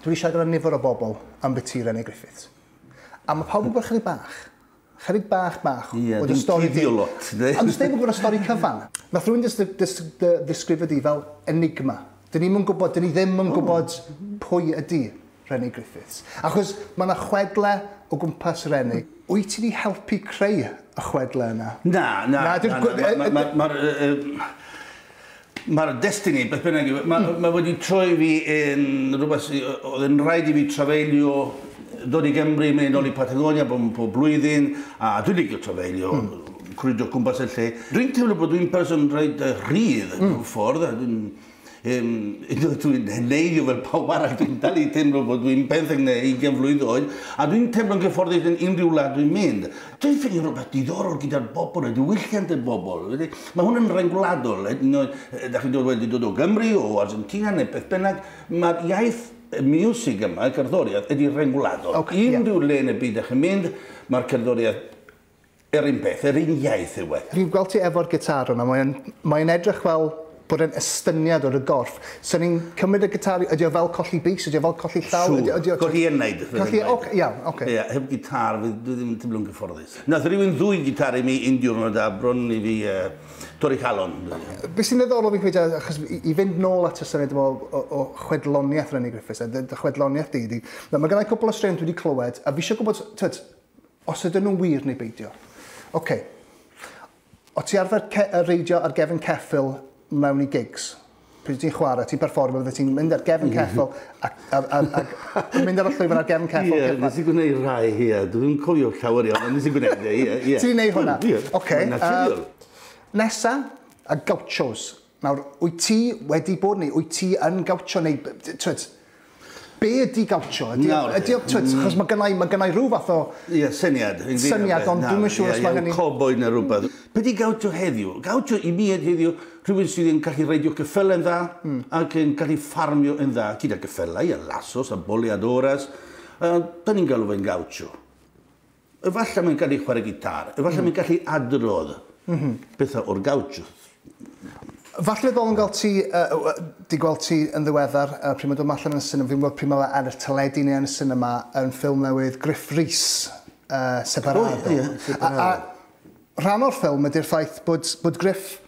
Dwi eisiau gyda nifer o bobl am biti Rene Griffiths. A mae pawb yn gwybod chydig bach. Chydig bach bach. Ie, yeah, dim stori di o lot. Ond dim yn gwybod y stori cyfan. Nath rwy'n ddisgrifio di fel enigma. Dyn ni'n gwybod, dyn ni ddim yn gwybod pwy ydy Rene Griffiths. Achos mae yna chwedle o gwmpas Rene. Wyt ti wedi helpu creu y chwedle yna? Na, na. Mae'r... Mae'r destiny, beth bynnag yw, mae, mm. mae wedi troi fi yn rhywbeth sydd oedd yn rhaid i fi trafeilio dod i Gymru, mynd yn ôl i Patagonia bob, bob blwyddyn, a dwi'n licio trafeilio, mm. cwridio cwmpas y lle. Dwi'n teimlo bod dwi'n person rhaid rhydd mm. mewn ffordd, a dwi'n Um, dwi'n heneiddio fel pawb arall, dwi'n dal i teimlo bod dwi'n benthyg neu 20 mlynedd oed, a dwi'n teimlo'n gyfforddus yn unrhyw wlad dwi'n mynd. Dwi'n ffeindio rhywbeth diddorol gyda'r bobl, y diwylliant y bobl. Mae hwn yn rhain gwladol, hyd yn oed, da chi'n dod wedi dod o Gymru, o Argentina neu beth bynnag, mae'r iaith y miwsig yma, y cerddoriaeth, ydy rhain gwladol. Okay, Unrhyw yeah. le yn y byd da chi'n mynd, mae'r cerddoriaeth yr un peth, yr un iaith yw e. Fi'n gweld ti efo'r gitar yna, mae'n mae edrych fel bod e'n estyniad o dy gorff. So ni'n cymryd y gitari, ydy o fel colli bys, ydy o fel colli llaw? Siŵr, ydy, ydy o, colli yn neud. Colli, oce, iawn, oce. Okay. Yeah, heb gitar, dwi ddim yn teimlo'n gyfforddus. Nath rhywun ddwy gitar i mi un diwrnod a bron i fi uh, torri calon. Be sy'n ddiddorol fi'n credu, achos i, i fynd nôl at y syniad yma o, o, o chwedloniaeth Rennie Griffiths, a dy, dy chwedloniaeth di, di mae gennau cwpl o straeon dwi wedi clywed, a fi eisiau gwybod, tyd, os ydyn nhw'n wir neu beidio. Oce. Okay. O ti arfer ce- yy reidio ar gefn ceffyl mewn i gigs? Pryd ti'n chware, ti'n perfformio fydde ti'n mynd ar gefn ceffyl ac a a a mynd ar y llwyfan ar gefn ceffyl Ie, nes i gwneud rhai, ie. Dwi'm cofio llawer iawn, ond nes i gwneud e, ie, ie. Ti'n neud hwnna? Ie. Ocê, yy... Mae'n naturiol. Nesa, y Gauchos. Nawr, wyt ti wedi bod neu wyt ti yn gawtio neu twyd, be ydy gawtio? Ydy, Nawr, ydy, twyd, mm. achos mae gennau, mae gennau rhyw fath o... Ie, yeah, syniad. Syniad, ond dwi'n mynd siŵr os mae hynny... Cowboy neu rhywbeth. Be di gawtio heddiw? Gawtio i mi ed heddiw rhywun sydd yn gallu reidio cyffel yn dda mm. ac yn gallu ffarmio yn dda gyda cyffelau a lasos a boleadores. Uh, da ni'n galw fe'n gawtio. Efallai mae'n gallu chwarae gitar, efallai mae'n gallu adrodd pethau o'r gawch. Falle ddol yn gweld ti, di gweld ti yn ddiweddar, pryd mae'n dod allan yn y sinema, fi'n gwybod pryd mae fe ar y teledu neu yn y sinema, yn ffilm newydd Griff Rhys, Separado. Rhan o'r ffilm ydy'r ffaith bod Griff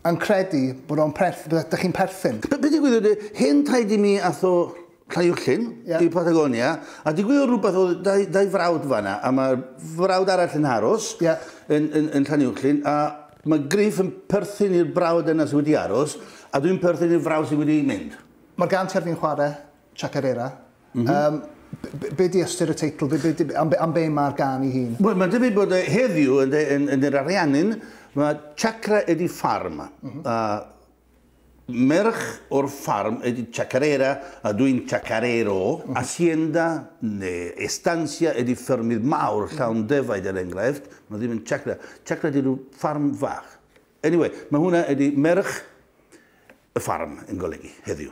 yn credu bod o'n perth- bod ydych chi'n perthyn. Be' be' digwyddodd yy hen taid i mi ath o Llangollen... Ie. ...i Patagonia a digwyddodd rwbeth o'dd dau dau frawd fan 'na a ma'r frawd arall yn aros... Ie. ...yn yn yn Llanuwchllyn a ma' Griff yn perthyn i'r brawd yna sy wedi aros a dwi'n perthyn i'r frawd sy wedi mynd. Ma'r gân ti ar fin chware, Chacarera, Mm -hmm. um, be di ystyr y teitl? Be, be, am, be, am be mae'r gan i hun? Wel, mae'n debyg bod e heddiw yn, yn, yn yr Ariannin, mae Chakra ydi ffarm. Mm -hmm. uh, merch o'r ffarm ydi Chacarera, a dwi'n Chacarero. Mm -hmm. Hacienda neu estancia ydi ffermydd mawr llawn defaid er enghraifft. Mae ddim yn Chakra. Chakra ydi rhyw ffarm fach. Anyway, mae hwnna ydi merch y ffarm yn golygu heddiw.